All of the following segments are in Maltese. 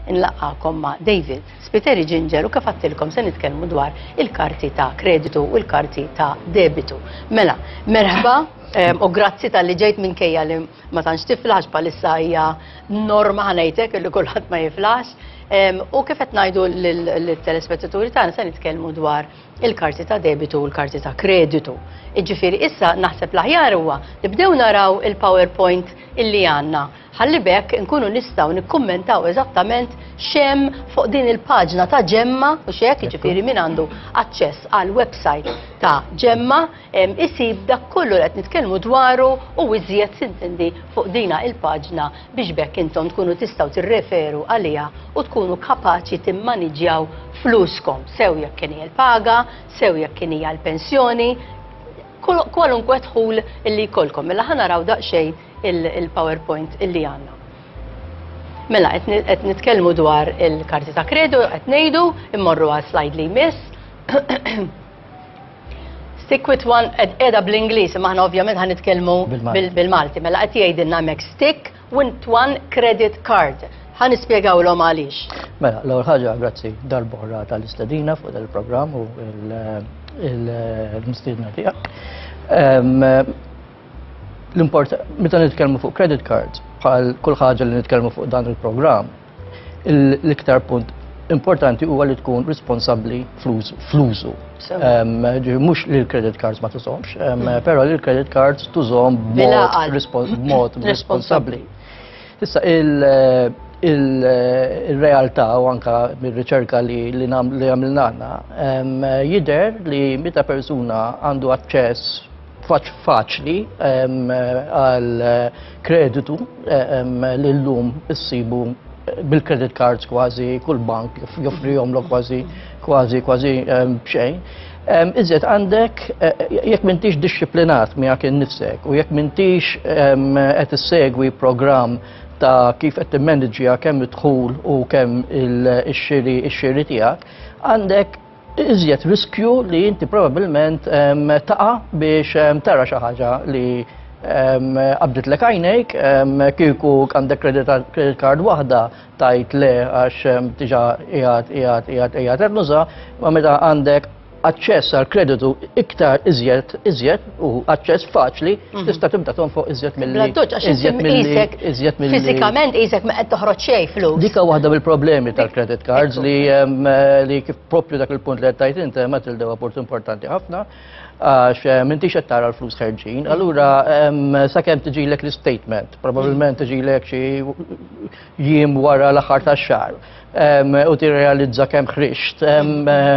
Inlaqqakom ma' David Spiteri Ginger u kif għattilkom se nitkellmu dwar il-karti ta' kreditu u l-karti ta' debitu. Mela, merħba ehm, u grazzi tal-li ġejt minn kejja li ma tantx tiflax palissa hija norma ħanajtek li kulħadd ma jiflax. Ehm, u kif qed ngħidu l-telespettaturi tagħna se nitkellmu dwar il-karti ta' debitu u l-karti ta' kreditu. Iġifieri issa naħseb l-aħjar huwa li bdew naraw il-PowerPoint illi għandna ħalli b'hekk inkunu nistgħu nikkummentaw eżattament x'hemm fuq din il-paġna ta' Ġemma u x'hekk, jiġifieri min għandu aċċess għal website ta' Ġemma isib dak kollu qed nitkellmu dwaru u iżjed sintendi fuq dina il-paġna biex b'hekk intom tkunu tistgħu tirreferu għaliha u tkunu kapaċi timmaniġjaw fluskom sew jekk kien hija l-paga, sew jekk kien hija l-pensjoni, kwalunkwe dħul li jkollkom. Mela ħa naraw daqsxejn il-PowerPoint illi għandna. Mela, qed nitkellmu dwar il-karti ta' kredu, qed ngħidu, immorru għal slide li jmiss. Stick with one, edha bl-Inglis, maħna ovvjament ħan nitkellmu bil-Malti. Mela, qed jgħidilna mek stick with one credit card. Ħan nispjegaw l għaliex. Mela, l-ewwel ħaġa, grazzi darbohra tal-istedina fuq il-programm u il-mistidna tiegħek. l-import meta nitkellmu fuq credit card bħal kull ħaġa li nitkellmu fuq dan il-programm, l-iktar punt importanti huwa li tkun responsabbli fl-użu. Mhux li l-credit cards ma tużomx, mm. però li l-credit cards tużom b'mod responsabbli. Issa il-realtà u anka mir-riċerka li għamilna jider li meta persuna għandu aċċess faċ faċli għal kreditu l-lum issibu bil-credit cards kważi kull bank joffrihom l kważi kważi kważi bxejn. Iżjed għandek, e, e, jekk mintix disciplinat miegħek innifsek u jekk mintix qed issegwi programm ta' kif qed timmanagġja kemm id-dħul u kemm il-xiri ix-xiri tiegħek, għandek iżjed riskju li inti probabilment taqa biex tara xi ħaġa li qabdet lek għajnejk kieku għandek credit card waħda tajt le għax tiġa qiegħed qiegħed qiegħed qiegħed nuża, ma meta għandek aċċess għal kreditu iktar iżjed iżjed u aċċess faċli, mhm. tista' tibda tonfoq iżjed mill Bla doċ, għax iżjed mill-isek, iżjed mill Fisikament isek ma qed toħroġ xejn flus. Dika waħda mill-problemi tal-credit cards li eh, li kif propju dak il-punt li qed tajt inti ma tildew apport importanti ħafna għax eh, minti qed tara l-flus ħerġin. Allura sakemm tiġilek l-statement, probabbilment tiġilek xi jiem wara l-aħħar tax-xahar u tirrealizza kemm ħrixt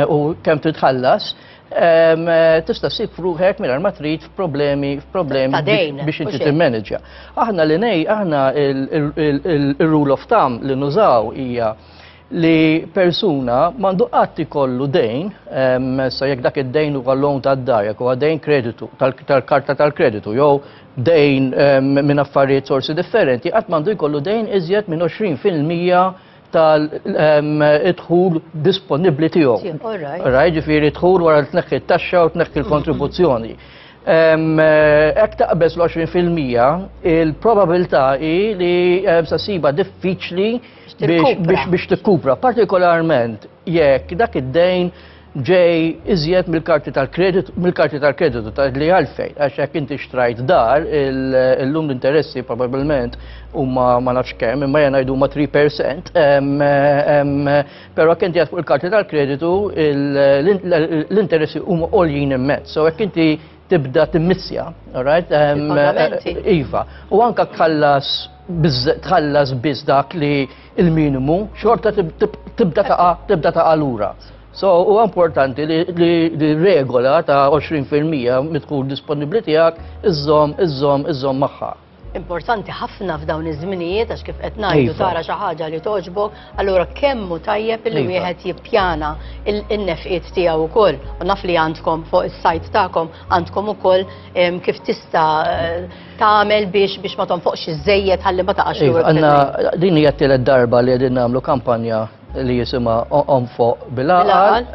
u kemm titħallas tista' ssib ruħek mingħajr ma trid f'problemi f'problemi biex inti timmanagġja. Aħna li nej, aħna il-rule of thumb li nużaw hija li persuna mandu għatti kollu dejn, sa jek dak id-dejn huwa loan ta' d-dar, jek huwa dejn kreditu, tal-karta tal-kreditu, jew dejn minn affarijiet sorsi differenti, qatt mandu jkollu dejn iżjed minn 20% tal-idħul disponibbli tiegħu. Raj ġifieri dħul wara tnekki t-taxxa u tnekki l-kontribuzzjoni. Hekk taqbeż l-20% il-probabilità hi li sa siba diffiċli biex tikkupra, partikolarment jekk dak id-dejn ġej iżjed mill-karti tal-kreditu, mill-karti tal-kreditu ta' li għalfejn, għax jekk inti xtrajt dar, illum l-interessi probabilment huma ma nafx kemm, imma jena jdu ma 3%, però jekk inti fuq il-karti tal-kreditu l-interessi huma għoljin immezz. So jekk inti tibda timmissja, alright? Iva. U anka kallas tħallas biss dak li il-minimu, xorta tibda taqa tibda taqa lura. So, u importanti li regola ta' 20% mitħul disponibli tiegħek iżżomm, iżżomm, iżżomm magħha importanti ħafna f'dawn iż-żminijiet għax kif qed ngħidu iva. tara xi ħaġa li toġbok, allura kemm hu tajjeb li iva. wieħed jippjana in-nefqiet tiegħu wkoll. U naf li għandkom fuq is-sajt tagħkom għandkom ukoll kif tista' eh, tagħmel biex biex ma tonfoqx iżejjed ħalli ma taqax iva, lura. Għandna din hija t-tielet darba li qegħdin nagħmlu kampanja li jisimha Onfoq bil-għaqal.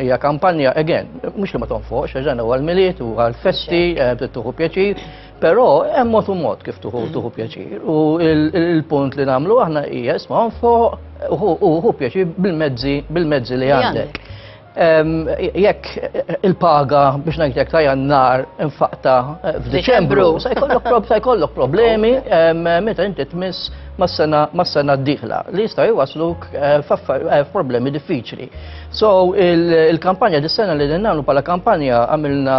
Hija kampanja, again, mhux li ma tonfoqx, għax dan huwa l-miliet u għall-festi, eh, tuħu pjaċir, però hemm mod u mod kif tuħu mm. tuħu pjaċir. U il-punt li nagħmlu aħna hija isma' onfoq u pjaċir bil-mezzi bil-mezzi li għandek. Jekk il-paga biex ngħidlek ta' jannar infaqta eh, f'Diċembru, se jkollok problemi meta inti tmiss mas-sena d-dieħla li jista' jwasluk eh, eh, f'problemi diffiċli. So il-kampanja dis-sena li nagħmlu bħala kampanja għamilna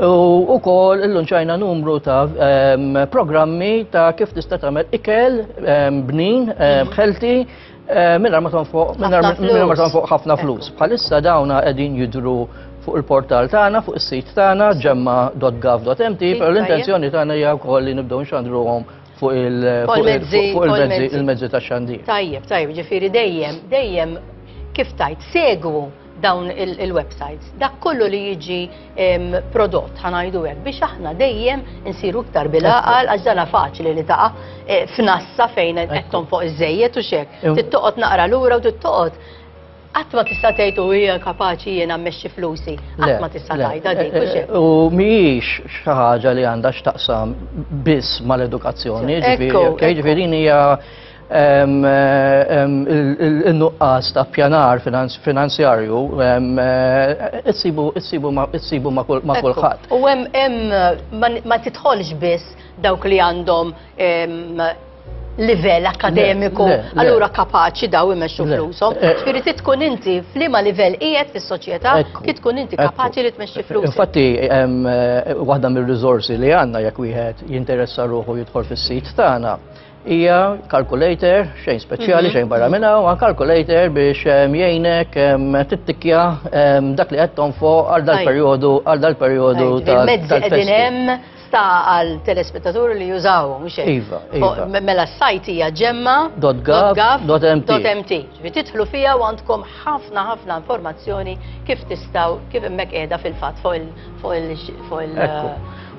U kol l-lunċajna numru ta' ehm, programmi ta' kif tista' tagħmel ikel, ehm, bnin, ehm, ħelti, minna ma tonfoq ħafna flus. Bħalissa dawna qegħdin jidru fuq il-portal tagħna, fuq is-sit tagħna ġemma.gov.mt, però l-intenzjoni tagħna hija wkoll li nibdew nxandruhom fuq il-mezzi ta' xandir. Tajjeb, tajjeb, ġifieri dejjem, dejjem kif tajt, segwu dawn il-websites, dak kollu li jiġi prodott ħanajdu hekk biex aħna dejjem insiru iktar bil-aqal għax dana faċli li taqa' e, f'nassa fejn qed fuq iż-żejjed u xek. Tittoqgħod naqra lura u tittoqgħod Qatt ma tista' tgħid u hija kapaċi jiena mmexxi flusi. Qatt ma tista' tgħidha dik e, e, U mhijiex xi ħaġa li għandha x'taqsam biss mal-edukazzjoni, ġifieri hija il-nuqqas ta' pjanar finanzjarju issibu ma' kulħadd. U hemm ma titħolx biss dawk li għandhom livell akademiku, allura kapaċi daw imexxu flushom. Ġifieri trid tkun inti f'liema livell qiegħed fis-soċjetà, trid tkun inti kapaċi li tmexxi flushom. Infatti, waħda mir-riżorsi li għandna jekk wieħed jinteressa ruħu jidħol fis-sit tagħna, Hija calculator, xejn speċjali, mhm. xejn barra minna, u calculator biex jgħinek tittikja dak li qed fuq għal dal-perjodu għal dal-perjodu tal-festival ta' għal telespettaturi li jużaw, mux Iva, iva. Mela s-sajt hija ġemma. .gov.mt. Titħlu fija u għandkom ħafna ħafna informazzjoni kif tistaw, kif emmek edha fil-fat fuq il-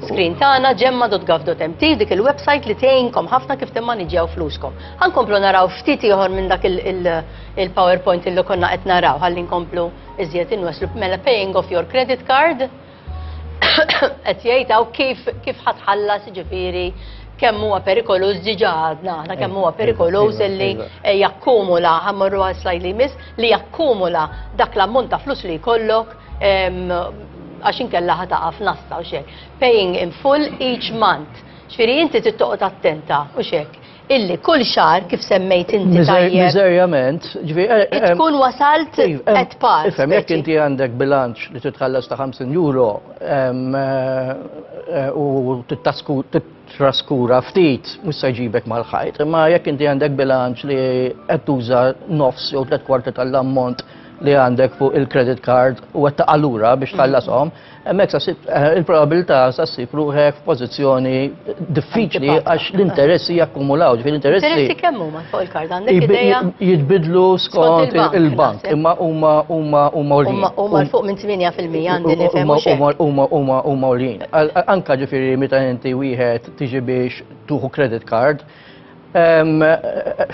Screen tagħna gemma.gov.mt dik il-website li tgħinkom ħafna kif timmaniġġjaw fluskom. Ħankomplu naraw ftit ieħor minn dak il-PowerPoint il, il, il li konna qed naraw ħalli nkomplu iżjed inweslu mela paying off your credit card qed jgħid hawn kif kif ħatħallas ġifieri kemm huwa perikoluż diġà għadna aħna kemm huwa perikoluż li eh, jakkumula ħammorru għal slajd li jmiss li jakkumula dak l-ammont ta' flus li jkollok għax inkella ħataqa f'nassa u xek. Paying in full each month. Xfiri inti tittoqgħod attenta u xek. Illi kull xar kif semmejt inti tajjeb. Miżerjament, ġifieri. Eh, eh, eh, tkun wasalt at par. Ifhem jekk inti għandek bilanċ li titħallas ta' 50 euro u titraskura ftit mhux se jġibek mal-ħajt, imma jekk inti għandek bilanċ li qed tuża nofs jew tliet kwarti tal-ammont li għandek fuq il-credit card u għetta għallura biex mm. tħallasom, emmek eh, il-probabilità sa sib ruħek f'pożizzjoni diffiċli għax l-interessi jakkumulaw, ġifir l-interessi. Interessi kemmu ma fuq il-kard għandek ideja? Jitbidlu skont il-bank, imma huma huma huma ulin. Huma fuq minn 8% għandi nifhem Huma huma huma ulin. Anka ġifieri meta inti wieħed tiġi biex tuħu credit card,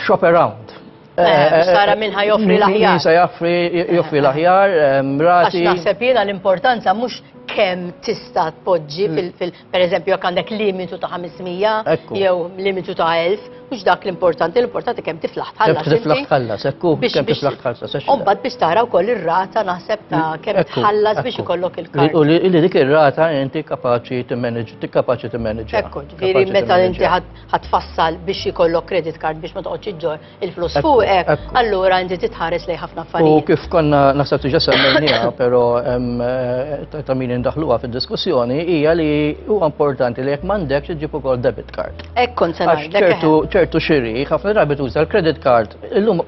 shop around Eh, Sara minn ħa joffri l-aħjar. Minn joffri joffri l-aħjar, eh, mrati. Għax naħseb jiena l-importanza mhux kemm tista' tpoġġi mm. fil per eżempju jekk għandek limitu ta' 500 jew limitu ta' 1000, mhux dak l-importanti, l-importanti kemm tiflaħ tħallas. Kemm tiflaħ tħallas, ekku, kemm tiflaħ tħallas. Umbad biex tara wkoll ir-rata naħseb ta' mm, kemm tħallas biex ikollok il-kart. U li dik ir-rata inti kapaċi timmanage, kapaċi timmanage. Ekku, ġifieri meta inti ħadd fassal biex jkollok credit card biex ma toqgħodx iġġor il-flus fuqek, allura inti titħares lej ħafna affarijiet. U kif konna naħseb tiġa semmejniha, però eh, ta' min indaħluha fid-diskussjoni hija li huwa importanti li jekk m'għandekx iġġib ukoll debit card. Hekk kont se ċertu ċertu xiri, ħafna drabi tuża l-credit card, illum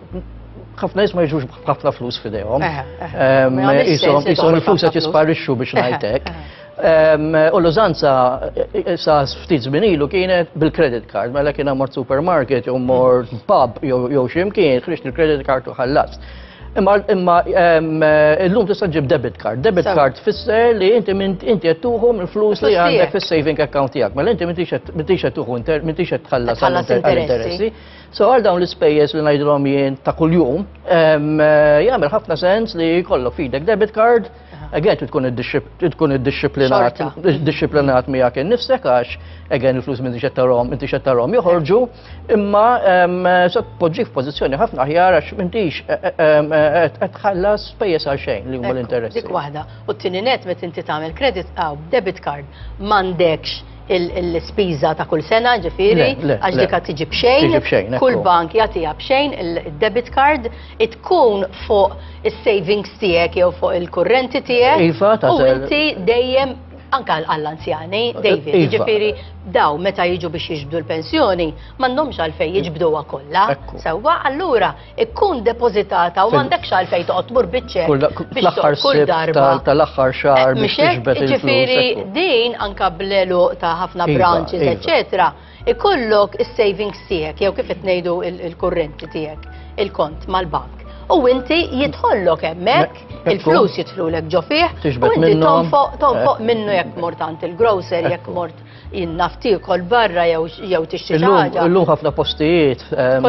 ħafna jisma jġux ħafna flus fidejhom. Jisom il-flus qed jisparixxu biex ngħidlek. U l-użanza sa ftit żmien ilu kienet bil-credit card, mela kien mort supermarket jew mort pub jew x'imkien, ħriġt il-credit card u ħallast. Imma imma illum tista' ġib debit card. Debit card tfisser li inti inti qed tuħu mill-flus li għandek fis-saving account tiegħek. Mela inti m'intix qed tuħu m'intix qed tħallas interessi. So għal dawn l-ispejjeż li ngħidilhom jien ta' kuljum, jagħmel ħafna sens li jkollok fidek debit card Again, tu tkun id-disciplinat, disciplinat miegħek innifsek għax, again, il-flus minn tixet tarom, minn tixet tarom joħorġu, imma poġġi f'pożizzjoni ħafna ħjar għax minn tix e, e, e, qed tħallas pejjeż għal xejn li huma l-interessi. Dik waħda. U t-tieni net meta inti tagħmel credit għaw debit card m'għandekx l-ispiża ta' kull sena ġifieri, għax dik qed tiġi b'xejn, kull bank jagħtiha b'xejn il-debit card, tkun fuq is-savings tiegħek jew fuq il-kurrenti tiegħek. Iva, ta' sew. U inti dejjem anke għall-anzjani, David, iva. jiġifieri daw meta jiġu biex jiġbdu l-pensjoni, m'għandhomx għalfejn jiġbduha kollha. Sewwa, allura ikkun depożitata u m'għandekx għalfejn toqgħod tmur biċċek biex kull darba tal-aħħar xahar eh, biex tiġbed Ġifieri din anka blelu ta' ħafna iva, branches, iva. eċetera, ikollok is-savings tiegħek jew kif qed ngħidu il-kurrenti tiegħek, il-kont mal-bank. U inti jidħollok hemmhekk il-flus jidħlulek ġo fih, u inti tonfoq eh. minnu jekk mort għand il-grocer, jekk mort jien naf tiekol barra jew tixtri xi ħaġa. Illum ħafna postijiet ehm,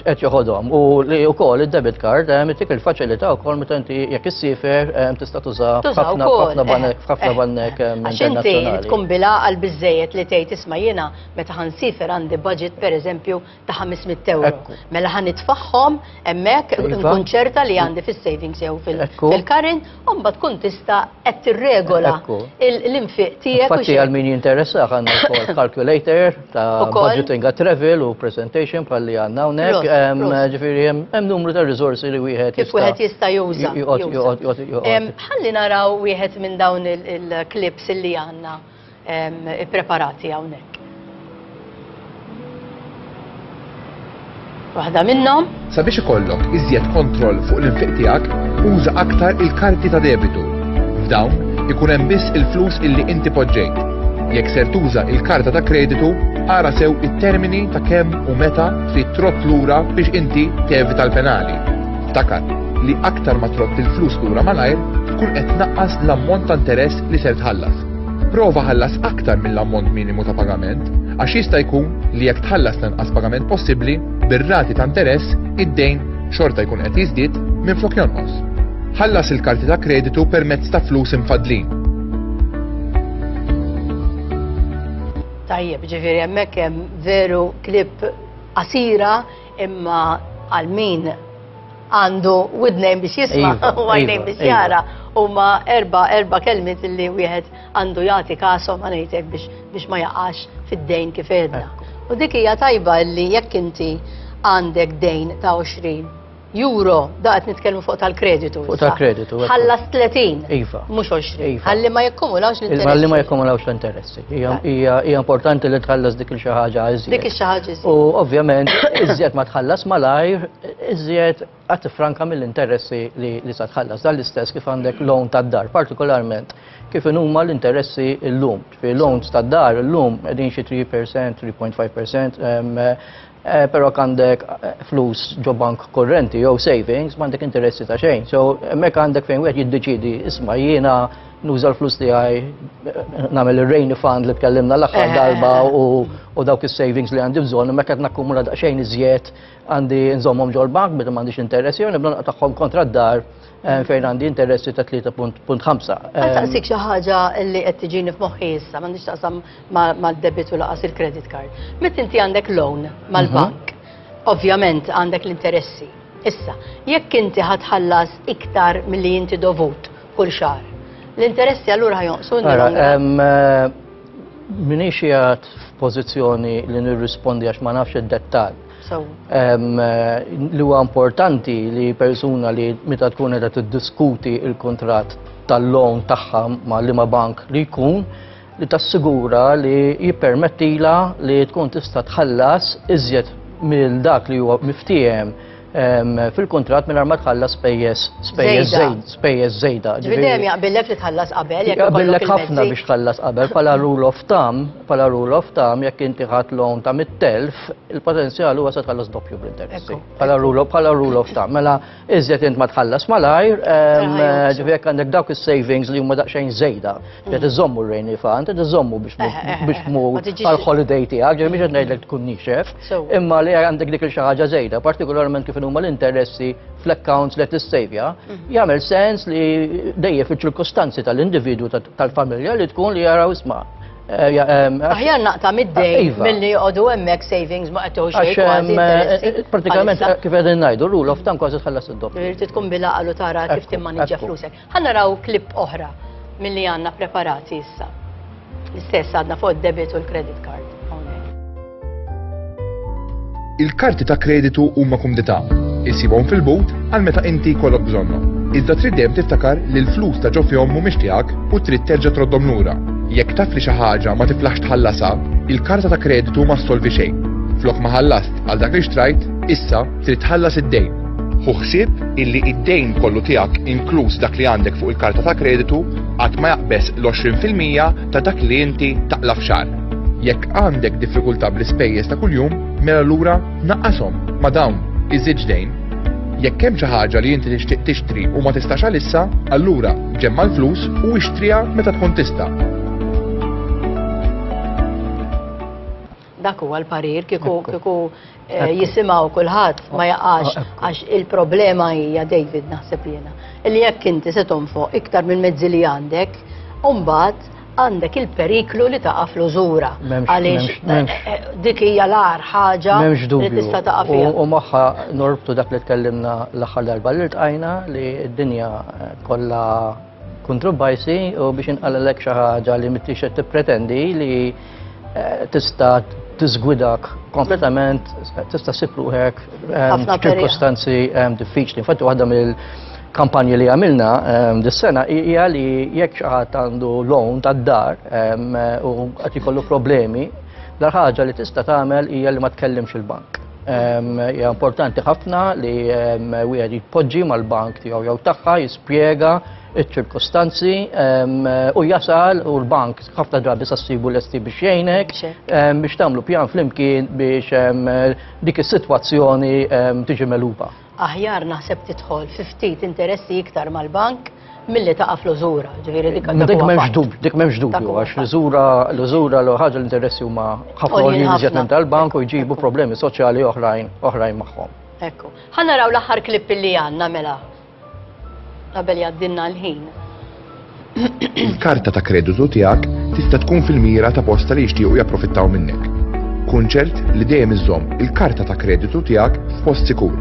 qed joħodhom u li wkoll id-debit card ehm, dik il-faċilità wkoll meta inti jekk issifer ehm, tista' tuża ħafna ħafna banek eh, ħafna eh. banek Għax inti tkun bilgħaqal biżejjed li tgħid isma' jiena meta ħansifer għandi budget pereżempju ta' 500 euro. Mela ħan nitfaħħom emmek nkun ċerta li għandi fil-savings jew fil-karin, umba tkun tista qed tirregola l-infiq tiegħek. Fatti għal min jinteressa għandna wkoll calculator ta' budgeting għat travel u presentation bħalli għandna hawnhekk. Ġifieri hemm numru ta' riżorsi li wieħed jista' wieħed jista' juża. Ħalli naraw wieħed minn dawn il-klips li għandna. ippreparati hawnhekk. Waħda minnhom. Sabiex ikollok iżjed kontroll fuq l-infiq tiegħek, uża aktar il-karti ta' debitu. F'dawn ikun hemm biss il-flus illi inti poġġejt. Jekk ser tuża il-karta ta' kreditu, ara sew it-termini ta' kemm u meta trid trott lura biex inti tevita l-penali. Ftakar li aktar ma trott il-flus lura malajr, tkun qed tnaqqas l-ammont ta' interess li ser tħallas. Prova ħallas aktar mill-ammont minimu ta' pagament għax jista' jkun li jekk tħallas l-inqas pagament possibbli bir-rati ta' interess id-dejn xorta jkun qed jiżdied minflok jonqos. Ħallas il-karti ta' kreditu permezz ta' flus imfaddlin. Tajjeb, ġifieri hemmhekk hemm veru klib qasira Imma għal min għandu widnejn biex jisma' iva, u għajnejn iva, biex iva. jara huma erba' erba' kelmiet li wieħed għandu jagħti kasom għanejtek biex biex ma jaqax fid-dejn kif edna. U dik hija tajba li jekk inti għandek dejn ta' 20 euro, da qed nitkellmu fuq tal-kreditu. Fuq tal-kreditu. Ħallas 30. Iva. Mhux 20. Iva. Ħalli ma jekkumulawx l-interessi. Ħalli ma jekkumulawx l-interessi. Hija importanti li tħallas dik il-xi ħaġa iżjed. Dik il-xi ħaġa iżjed. U ovvjament, iżjed ma tħallas malajr, iżjed għat franka mill-interessi li sa tħallas. Dan l-istess kif għandek loan tad-dar, partikolarment kif huma l-interessi l-lum. Fi loans tad-dar l-lum qegħdin xi 3%, 3.5% Eh, pero għandek eh, flus ġo bank korrenti jew savings, m'għandek interessi ta' xejn. So, mek għandek fejn wieħed jiddeċidi, isma' jiena nuża l-flus tiegħi eh, nagħmel ir-rain fund li tkellimna l-aħħar darba u dawk is-savings li għandi bżonn, mek qed nakkumula daqsxejn iżjed għandi nżommhom ġol bank meta m'għandix interessi jew nibda tagħhom kontra d-dar Eh, fejn għandi interessi ta' 3.5. Għal eh, taqsik xi ħaġa li qed tiġini f'moħħi issa, m'għandix taqsam mad-debit u laqas il-credit card. Meta inti għandek loan mal-bank, mhm. ovvjament għandek l-interessi. Issa, jekk inti ħatħallas iktar milli inti dovut kull xahar, l-interessi allura ħajonqsu eh, Minix jgħat f'pożizzjoni li nirrispondi għax ma nafx id-dettall. Li huwa importanti li persuna li meta tkun qed tiddiskuti il-kuntratt tal-loan tagħha ma' liema bank li jkun li tassigura li jippermettila li tkun tista' tħallas iżjed mill dak li huwa miftiehem fil-kuntratt mingħajr ma tħallas spejjeż spejjeż spejjeż żejda. Ġifieri jaqbillek li tħallas qabel jekk ikollok ħafna biex tħallas qabel bħala rule of thumb Bħala rule of thumb, jekk inti ħadd loan ta' 100,000, il-potenzjal huwa se tħallas doppju bl-interessi. Bħala rule of bħala rule of thumb. Mela iżjed int ma tħallas malajr, ehm, ġifieri jekk għandek dawk is-savings li huma daqsxejn żejda, qed mm. iżommu r-rejni fan, qed iżommu biex eh, eh, eh, mur għall-holiday tiegħek, ġifieri biex qed ngħidlek tkun nixef, imma li għandek dik il-xi ħaġa żejda, partikolarment kif huma l-interessi fl-accounts li tissejvja, mhm. jagħmel sens li dejjem fiċ-ċirkostanzi tal-individwu tal-familja li tkun li jaraw isma' Eh, eh, Aħjar naqta mid-dej eh, iva. mill-li għodu emmek savings ma għattuħu xej. Pratikament, kif għedin najdu, rule of thumb kważi tħallas id-dopp. Irti tkun bila għallu tara kif timmanġa flusek. Għanna raw klip oħra mill-li għanna preparati issa. L-istess għadna fuq debit u l-credit card. Il-karti ta' kreditu huma kumdità. Issibhom fil-but għal meta inti jkollok bżonnhom. Iżda trid dejjem tiftakar li l-flus ta' ġo fihom mhumiex tiegħek u trid terġa' troddhom lura. Jekk taf li xi ħaġa ma tiflaħx tħallasha, il-karta ta' kreditu ma ssolvi xejn. Flok ma ħallast għal dak li xtrajt, issa trid tħallas id-dejn. Ħu ħsieb illi id-dejn kollu tiegħek inkluż dak li għandek fuq il-karta ta' kreditu qatt ma jaqbeż l-20 fil-mija ta' dak li inti taqla f'xar. Jekk għandek diffikultà bl-ispejjeż ta' kuljum, mela lura naqqashom ma' dawn iż-żewġ dejn. Jekk hemm xi ħaġa li inti tixtieq tixtri u ma tistax għalissa, allura ġemma' l-flus u ixtriha meta tkun tista'. Dak huwa l-parir kieku kieku eh, jisimgħu kulħadd ma jaqax ah, għax il-problema hija David naħseb jiena. Illi jekk inti se tonfoq iktar minn mezzi li għandek, mbagħad għandek il-periklu li taqa' fl-użura. Għaliex eh, eh, dik hija l-ar ħaġa li tista' taqa' fiha. U magħha norbtu dak li tkellimna l-aħħar darba li tqajna li d-dinja kollha kontroversi u biex inqalelek xi ħaġa li mittix qed tippretendi li eh, tista' tiżgwidak kompletament tista' ssib ruħek ehm, ċirkostanzi ehm, diffiċli. Infatti waħda mill kampanji li għamilna ehm, dis-sena hija li jekk xi ħadd għandu loan tad-dar u qed ikollu problemi, l-ħaġa li tista' tagħmel hija li ma tkellimx il-bank. Hija importanti ħafna li wieħed jitpoġġi mal-bank tiegħu jew tagħha jispjega iċ-ċirkostanzi u jasal u l-bank ħafna drabi sassibu lesti biex jgħinek biex tagħmlu pjan flimkien biex dik is-sitwazzjoni tiġi meluba. Aħjar naħseb tidħol fi ftit interessi iktar mal-bank milli taqa' fl-użura, ġifieri dik għandha Dik m'hemmx dubju, dik m'hemmx dubju għax l-użura l-użura l ħaġa l-interessi huma ħafna li jiżjed minn tal-bank u jġibu problemi soċjali oħrajn oħrajn magħhom. Ekku. Ħa naraw l-aħħar klipp li għandna mela. Qabel jgħaddilna l-ħin. Il-karta ta' kreditu tiegħek tista' tkun fil-mira ta' posta li jixtiequ japprofittaw minnek. Kun ċert li dejjem iżżomm il-karta ta' kreditu tiegħek f'post sikur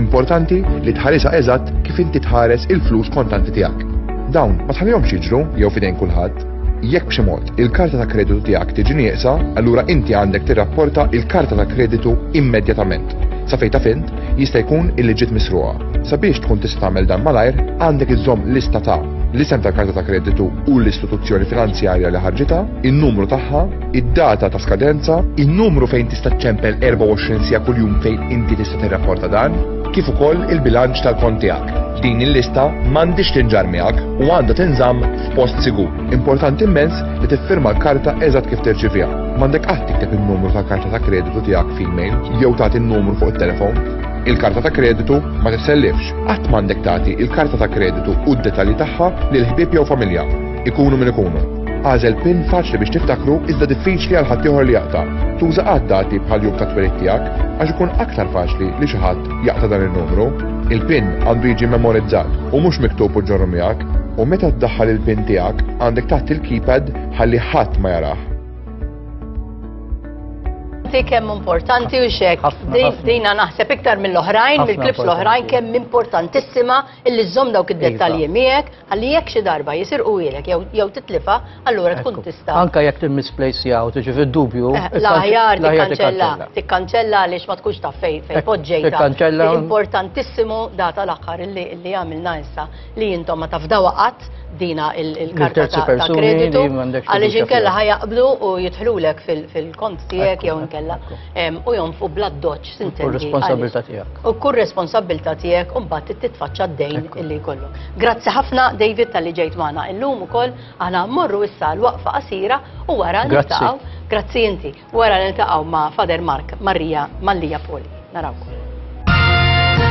Importanti li tħarisha eżatt kif inti tħares il-flus kontanti tiegħek. Dawn ma tħallihomx jiġru jew f'idejn kulħadd. Jekk b'xi mod il-karta ta' kreditu tiegħek tiġi nieqsa, allura inti għandek tirrapporta il-karta ta' kreditu immedjatament. Sa fejn taf int, jista' jkun illi ġiet misruqa. Sabiex tkun tista' tagħmel dan malajr, għandek iżżomm lista ta' l-isem tal-karta ta' kreditu u l-istituzzjoni finanzjarja li ħarġitha, in-numru tagħha, id-data ta' skadenza, in-numru fejn tista' ċċempel 24 siegħa kuljum fejn inti tista' tirrapporta dan, kif ukoll il-bilanċ tal-kont tiegħek. Din il-lista m'għandhiex tinġarr miegħek u għandha tinżamm f'post sigur. Importanti immens li tiffirma l-karta eżatt kif tirċiviha. M'għandek qatt tikteb in-numru tal-karta ta' kreditu tiegħek f'email jew tagħti n-numru fuq it-telefon. Il-karta ta' kreditu ma tissellifx. Qatt m'għandek tagħti il-karta ta' kreditu u d-detalji tagħha lil ħbieb jew familja. Ikunu min ikunu. Għażel pin faċli biex tiftakru iżda diffiċli għal ħaddieħor li jaqta'. Tuża għad dati bħal jum ta' twelid tiegħek għax ikun aktar faċli li xi ħadd jaqta' dan in-numru. Il-pin għandu jiġi memorizzat u mhux miktub u ġorru miegħek u meta ddaħħal il-pin tiegħek għandek taħt il-keypad ħalli ħadd ma jarah. Ti kemm importanti u xek. Dina naħseb iktar mill-oħrajn, mill-klips l-oħrajn kemm importantissima illi żomm dawk id-dettalji miegħek Ħalli jekk xi darba jisirquhielek jew jew titlifha, allura tkun Ekku. tista'. Anke jekk timmisplejsjaha u tiġi fid-dubju, Eh, ikkanċ- L-aħjar l-aħjar tikkanċella, tikkanċella. tikkanċella għaliex ma tkunx taf fejn fejn Ekku, poġġejtha. tikkanċella. L-importantissimu da tal-aħħar li li għamilna issa li intom ma tafdawha qatt dina il- il-karta terzi ta' ta' persuni kreditu li m'għandekx għaliex fiduċja inkella fihom. ħajaqblu u jidħlulek fil- fil-kont tiegħek Ekku, jew ekku, inkella ekku. em, u jonfqu bl-addoċċ x'tintendi. U responsabilità tiegħek. U kull responsabilità tiegħek u mbagħad titfaċċa d-dejn illi jkollok. Grazzi ħafna David tal-li ġejt magħna illum ukoll aħna mmorru issa l-waqfa qasira u wara niltaqgħu. Grazzi inti. Wara niltaqgħu ma' Father Mark Marija Mallija Poli. Narawkom.